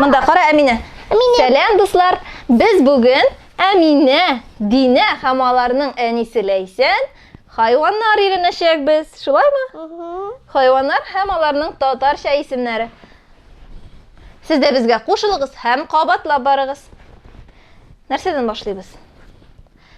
Монда кара Әминә. Сәлам дуслар. Без бүген Әминә, Динә һәм аларның әнисе Ләйсән хайваннар өйрәнәчәкбез. Шулаймы? Хайваннар һәм аларның татарча исемнәре. Сез дә безгә кушылыгыз һәм кабатлап барыгыз. Нәрсәдән башлыйбыз?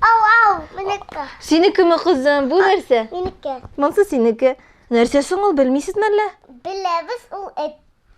Ау, ау, минеке. Синекеме, кызым, бу нәрсә? Минеке. Монсы синеке. Нәрсә соң ул, белмисез мәллә? Беләбез ул эт.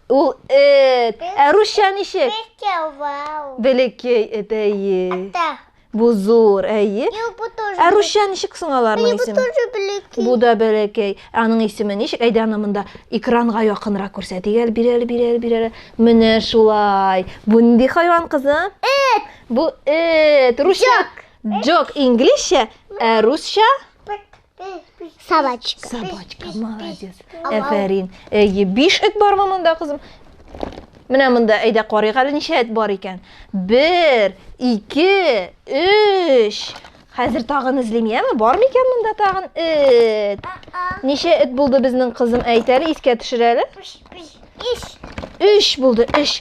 Ул эт. Ә русча ничек? Бекә, вау. Бәләкәй эт, әйе. Ата. Бу зур, әйе. Юк, бу тоже. Ә русча ничек соң аларның исеме? Бу тоже бәләкәй. Бу да бәләкәй. Аның исеме ничек? Әйдә аны монда экранга якынрак күрсәтик әле, бирәле, бирәле, бирәле. Менә шулай. Бу нинди хайван, кызым? Эт. Бу эт, русча. Джок инглизчә, ә русча Собачка. Собачка, молодец. Әфәрин. Әйе, биш эт бармы монда, кызым? Менә монда әйдә карыйк әле ничә эт бар икән. Бер, ике, өч. Хәзер тагын эзлим, яме? Бармы икән монда тагын эт? Ничә эт булды безнең кызым? Әйт әле, искә төшер әле. Өч. Өч булды, өч.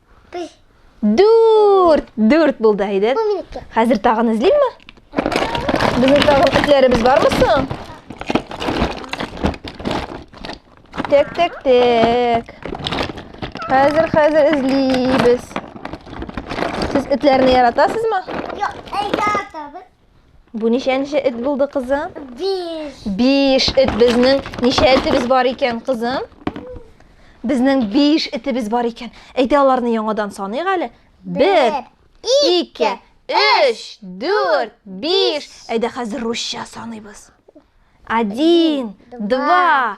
Дүрт! Дүрт булды, Айдет. Хәзер тагын эзлимме? Безнең тагын этләребез бармы соң? Тек, тек, тек. Хәзер, хәзер эзлибез. Сез этләрне яратасызмы? Юк, яратабыз. Бу ничәнче эт булды, кызым? Биш. Биш эт безнең ничә этебез бар икән, кызым? Безнең биш этебез бар икән. Әйдә аларны яңадан саныйк әле. Бер, ике, өч, дүрт, биш. Әйдә хәзер русча саныйбыз. Один, два,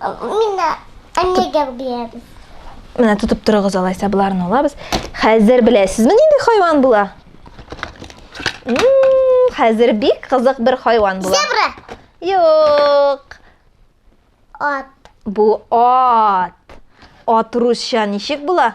Мина әннегә бирәбез. Менә тотып торыгыз алайса боларны алабыз. Хәзер беләсезме нинди хайван була? Хәзер бик кызык бер хайван була. Зебра. Юк. Ат. Бу ат. Ат русча ничек була?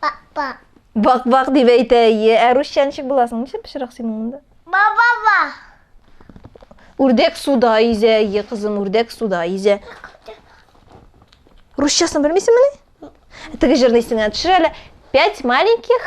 Бак, бак. Бак, бак дип әйтә, ие. Ә русча ничек буласың? Ничек пычрак синең монда? Ба, ба, ба. Үрдәк суда изә, ие, кызым, үрдәк суда изә. Русчасын белмисеңмени? Теге җырны исеңә төшер әле. Пять маленьких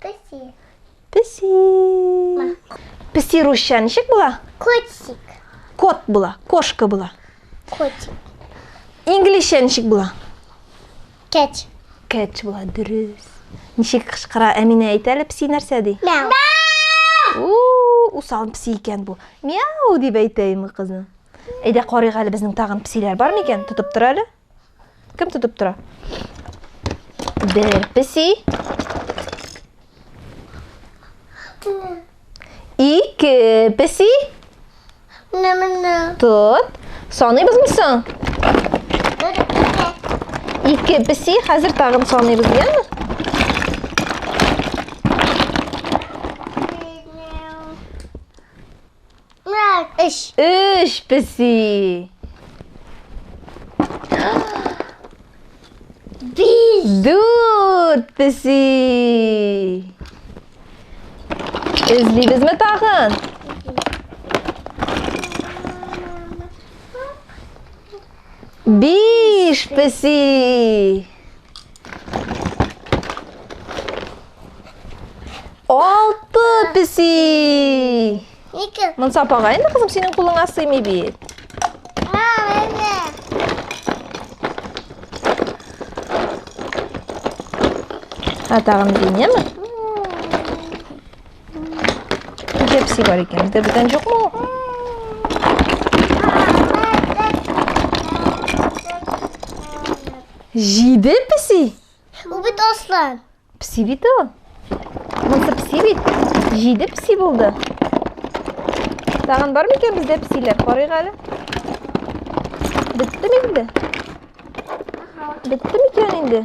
Песи. Песи. Песи русча ничек була? Котик. Кот була, кошка була. Котик. Инглизчә ничек була? Кэт. Кэт була, дөрес. Ничек кычкыра Әминә әйтә әле песи нәрсә ди? Мяу. Усал песи икән бу. Мяу дип әйтә инде кызым. Әйдә карыйк әле безнең тагын песиләр бар микән? Тотып тор әле. Кем тотып тора? Бер песи. Ике песи. Менә менә. Тот. Саныйбызмы соң? Ике песи, хәзер тагын саныйбыз, яме? Өч. Өч песи. Биш. Дүрт песи. Эзлибезме тагын? Биш песи. Алты песи. Ике. Монса апага инде кызым синең кулыңа сыймый бит. Ә тагын динеме? Нигә песи бар икән? Бездә бүтән юкмы? Җиде песи? Ул бит аслан. Песи бит ул. Монысы песи бит. Җиде песи булды. Тагын бар микән бездә песиләр? Карыйк әле. Беттеме инде? Беттеме икән инде?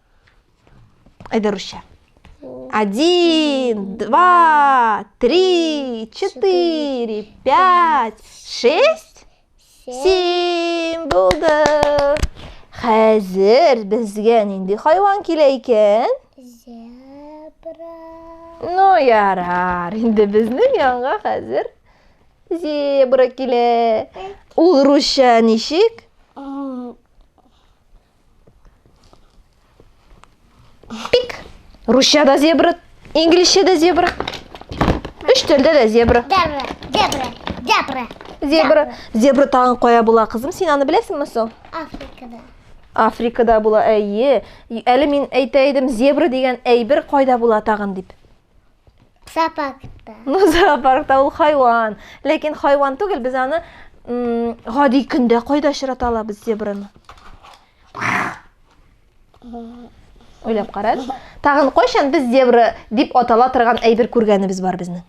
Әйдә, Русча. Один, два, три, четыре, пять, шесть, семь. Булды. Хәзер безгә нинди хайван килә икән? Зебра. Ну, ярар. Инде безнең янга хәзер зебра килә. Ул русча ничек? Пик. Русча да зебра, инглизчә да зебра. Үш телдә дә зебра. Зебра, зебра, зебра. Зебра. Зебра тагын кая була, кызым? Син аны беләсеңме соң? Африкада. Африкада була, әйе. Әле мин әйтә идем, зебра дигән әйбер кайда була тагын дип. Зоопаркта. Ну, зоопаркта ул хайван. Ләкин хайван түгел, без аны гади көндә кайда очрата алабыз зебраны? Уйлап карагыз. Тагын кайчан без зебра дип атала торган әйбер күргәнебез бар безнең?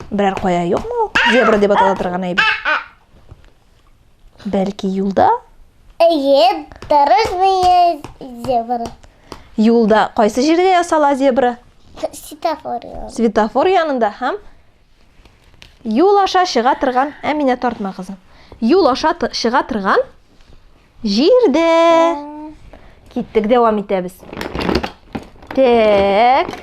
Берәр кая юкмы ул? Зебра дип атала торган әйбер. Бәлки юлда? Әйе, дорожная зебра. Юлда кайсы җирдә ясала зебра? Светофор. Светофор янында һәм юл аша чыга торган Әминә тартма кызым. Юл аша чыга торган Җирдә. Киттек, дәвам итәбез. Так.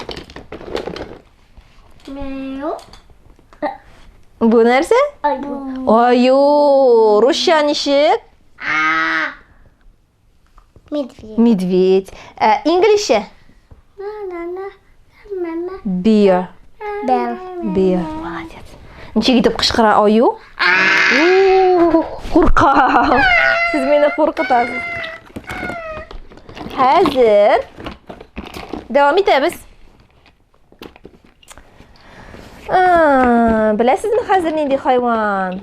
Бу нәрсә? Аю. Аю. Русча ничек? Медведь. Медведь. Ә, инглишчә? Мама. Бия. Бел. Бия. Молодец. Ничек итеп кычкыра аю? Курка. Сез мине куркытасыз. Хәзер дәвам итәбез. Беләсезме хәзер нинди хайван?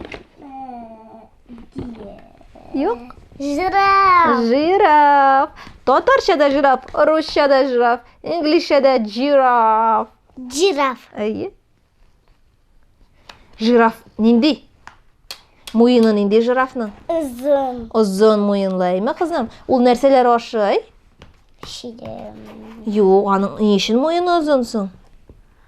Юк? Жираф. Жираф. Татарчада жираф, русчада жираф, инглизчәдә жираф. Жираф. Әйе. Жираф нинди? Муены нинди жирафның? Озын. Озын муенлы, әйме, кызым? Ул нәрсәләр ашый? Ширем. Юк, аның ни өчен муены озын соң?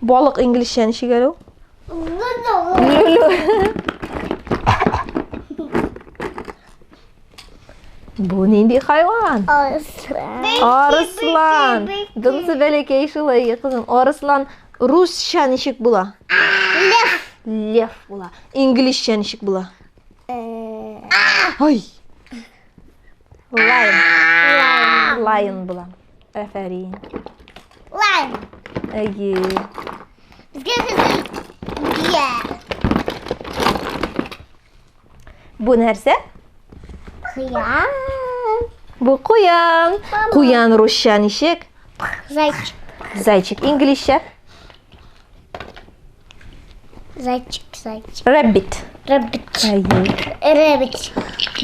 Балык инглизчә ничек әле ул? Бу нинди хайван? Арыслан. Арыслан. Дымсы бәләкәй шулай кызым. Арыслан русча ничек була? Лев. Лев була. Инглизчә ничек була? Э. Ай. Лайон. Лайон була. Әфәрин. Лайм. Әйе. Безгә бия. Бу нәрсә? Куян. Бу куян. Куян русча ничек? Зайчик. Зайчик инглизчә? Зайчик, зайчик. Рэббит. Рэббит. Рэббит.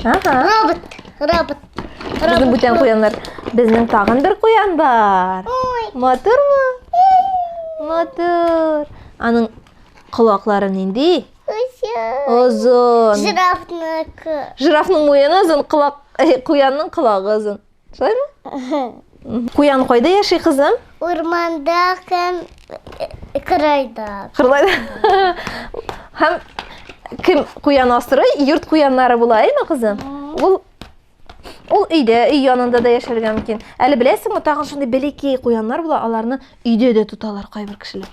Ага. Робот. Робот. Безнең бүтән куяннар. Безнең тагын бер куян бар. Матурмы? Матур. Аның колаклары нинди? Озын. Жирафныкы. Жирафның муены озын, колак, куянның колагы озын. Шулаймы? Куян кайда яши, кызым? Урманда һәм э, кырайда. Кырайда. Һәм кем куян асрый? Йорт куяннары була, әйме, кызым? Ул Ул өйдә, өй янында да яшәргә мөмкин. Әле беләсеңме, тагын шундый бәләкәй куяннар була, аларны өйдә дә тоталар кайбер кешеләр.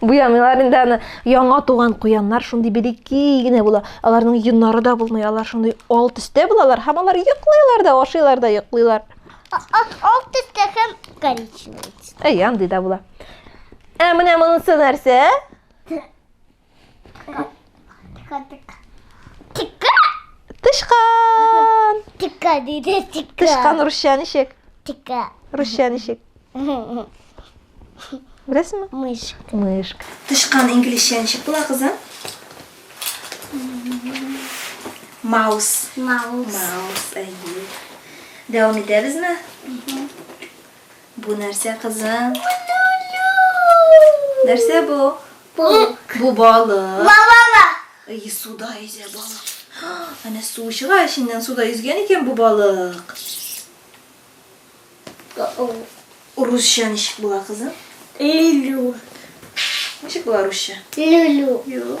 Буямыйлар инде аны. Яңа туган куяннар шундый бирекей генә була. Аларның йоннары да булмый, алар шундый ал төстә булалар һәм алар йоклыйлар да, ашыйлар да йоклыйлар. Ал төстә һәм коричневый. Әй, андый да була. Ә менә монысы нәрсә? Тычкан! Тика диде, тика. Тычкан русча ничек? Тика. Русча ничек? Беләсеңме? Мышка. Мышка. Тычкан инглизчә ничек була, кызым? Маус. Маус. Маус, әйе. Дәвам итәбезме? Бу нәрсә кызым? Нәрсә бу? Балык. Бу балык. Балала. И суда йөзә балык. Әнә су чыга эченнән суда йөзгән икән бу балык. Русча ничек була кызым? Люлю. Ничек була русча? Люлю. Юк.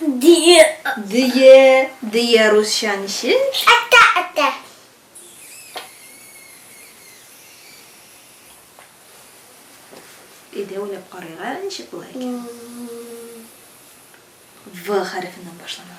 Дөе. Дөе. Дөе русча ничек? Әтә, әтә. Өйдә уйлап карыйк әле ничек була икән. В хәрефеннән башлана.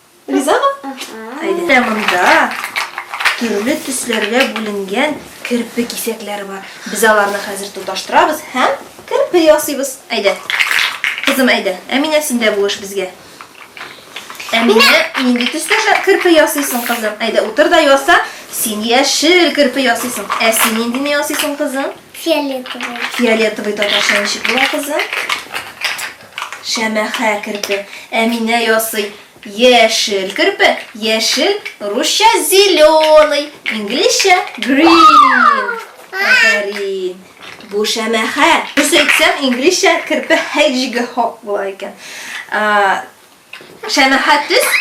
Ризамы? Әйдә монда төрле төсләргә бүленгән керпе кисәкләре бар. Без аларны хәзер тоташтырабыз һәм керпе ясыйбыз. Әйдә. Кызым, әйдә. Әминә, син дә булыш безгә. Әминә, нинди төстә керпе ясыйсың, кызым? Әйдә, утыр да яса. Син яшел керпе ясыйсың. Ә син ниндине ясыйсың, кызым? Фиолетовый. Фиолетовый татарча ничек була, кызым? Шәмәхә керпе, Әминә ясый. Яшел керпе, яшел, русча зеленый, инглизчә green. Афәрин. Бу шәмәхә. Дөрес әйтсәм, инглизчә керпе hedgehog була икән. Шәмәхә төс.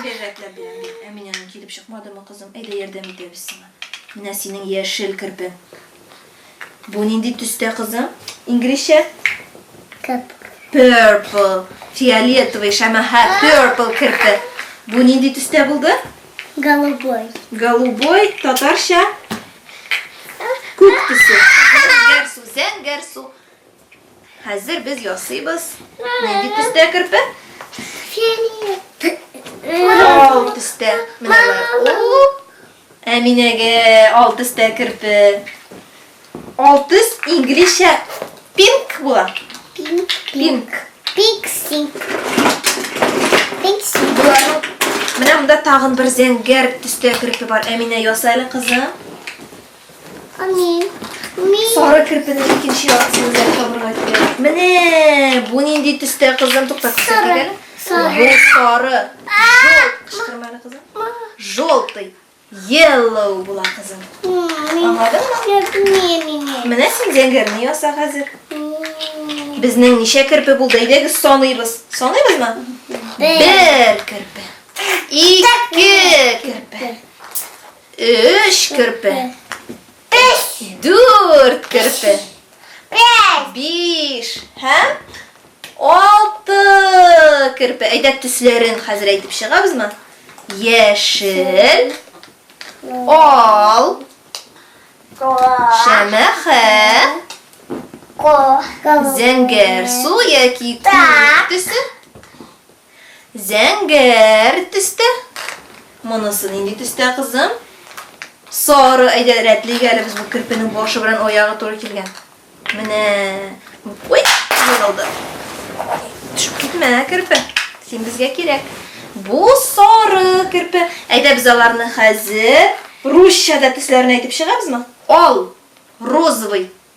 Бирәкләп бирәм. Әминәнең килеп чыкмадымы, кызым? Әйдә ярдәм итәбез сиңа. Менә синең яшел керпең. Бу нинди төстә кызым? Инглизчә? Purple. Фиолетовый шәмәхә purple керте. Бу нинди төстә булды? Голубой. Голубой татарча күк төсе. Зәңгәрсу, зәңгәрсу. Хәзер без ясыйбыз. Нинди төстә керпе? Ал төстә. Менә ул. Әминәгә ал төстә керпе. Ал төс инглизчә пинк була. Пинк. Пинк. Пиксинг. Пиксинг. Боларның Менә монда тагын бер зәңгәр төстә керпе бар. Әминә ясайлы кызым. Амин. Амин. Сары кирпенең икенче яртысын да табырга кирәк. Менә бу нинди төстә кызым тукта күрсәтергә. Сары. Бу сары. Жол. Кычкырманы кызым. Желтый. Yellow була кызым. Аңладыңмы? Менә син зәңгәрне яса хәзер. Безнең ничә керпе булды? Әйдәгез саныйбыз. Саныйбызмы? Бер керпе. Ике керпе. Өч керпе. Биш. Дүрт керпе. Бәш. Биш. Һәм алты керпе. Әйдә төсләрен хәзер әйтеп чыгабызмы? Яшел. Ал. Шәмәхә. Зәңгәр су яки күк төсе. Зәңгәр төстә. Монысы нинди төстә, кызым? Сары, әйдә, рәтлик әле без бу керпенең башы белән аягы туры килгән. Менә. Ой, ярылды. Төшеп китмә, керпе. Син безгә кирәк. Бу сары керпе. Әйдә без аларны хәзер русчада төсләрен әйтеп чыгабызмы? Ал, розовый,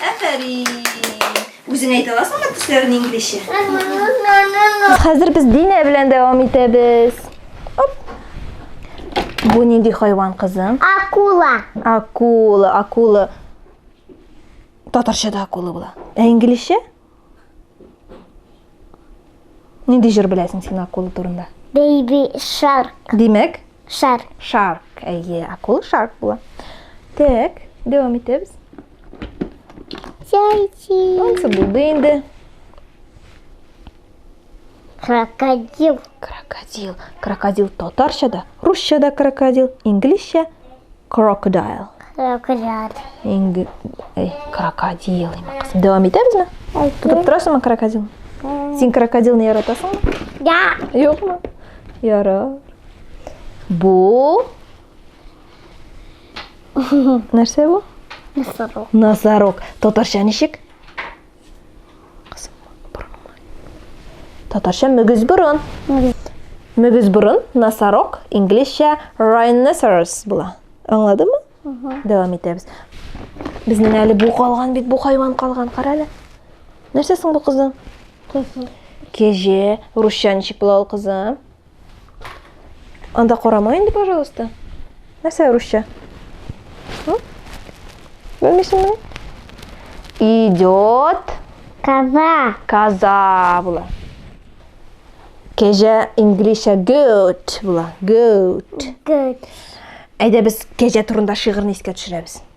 Афәрин! Үзең әйтә аласыңмы төсләрен инглизчә? Хәзер без Динә белән дәвам итәбез. Оп. Бу нинди хайван кызым? Акула. Акула, акула. Татарчада акула була. Ә инглизчә? Нинди җыр беләсең син акула турында? Baby Shark. Димәк? Shark. Shark. Әйе, акула Shark була. Так, дәвам итәбез. Зайчик. Ансы булды инде. Крокодил. Крокодил. Крокодил татарча да, русча да крокодил, инглизчә крокодайл. Крокодайл. Инг... Эй, крокодил. Дәвам итәбезме? Тотып торасыңмы крокодил? Син крокодилны яратасыңмы? Да. Юкмы? Ярар. Бу Нәрсә бу? Носорог. Носорог. Татарча ничек? Татарча мөгез борын. Мөгез борын, носорог, инглизчә rhinoceros була. Аңладыңмы? Дәвам итәбез. Безнең әле бу калган бит, бу хайван калган, кара әле. Нәрсә соң бу кызың? Кеже, русча ничек була ул кызым? Анда карама инде, пожалуйста. Нәрсә русча? Белмисеңме? Идет коза. Коза була. Кәҗә инглизчә goat була. Goat. Goat. Әйдә без кәҗә турында шигырьне искә төшерәбез.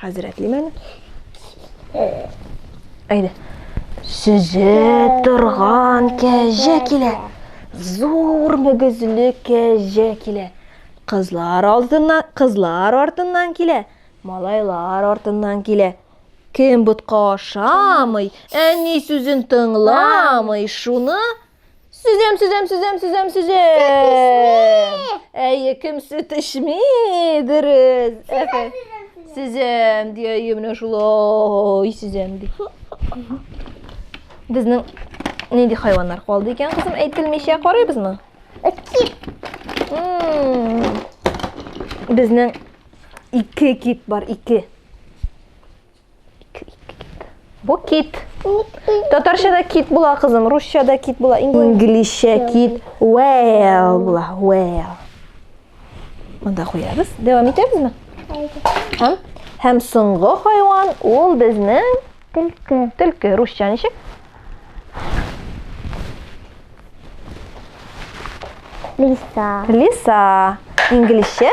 Хәзрәтлим әле. Әйдә. Сөзә торган кәҗә килә. Зур мөгезле кәҗә килә. Кызлар алдыннан, кызлар артыннан килә. Малайлар артыннан килә. Кем ботка ашамый, әни сүзен тыңламый, шуны Сөзәм, сөзәм, сөзәм, сөзәм, сөзәм. Әйе, кем сөт эчми? Дөрес. Әфә. Сөзәм, ди, әйе, менә шулай сөзәм, ди. Безнең нинди хайваннар калды икән, кызым, әйтелмичә карыйбызмы? Кит. Безнең ике кит бар, ике. Бу кит. Татарчада кит була, кызым, русчада кит була, инглизчә кит, whale була, whale. Монда куябыз. Дәвам итәбезме? Һәм һәм соңгы хайван ул безнең төлке. Төлке русча ничек? Лиса. Лиса. Инглизчә?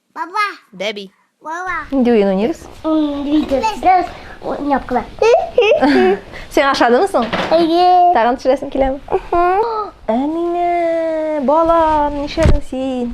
Баба. Бәби. Баба. Нинди уен уйныйбыз? Двигаться. Уйнапкала. Син ашадымы соң? Әйе. Тагын төшерәсең киләме? Әминә, балам, нишләдең син?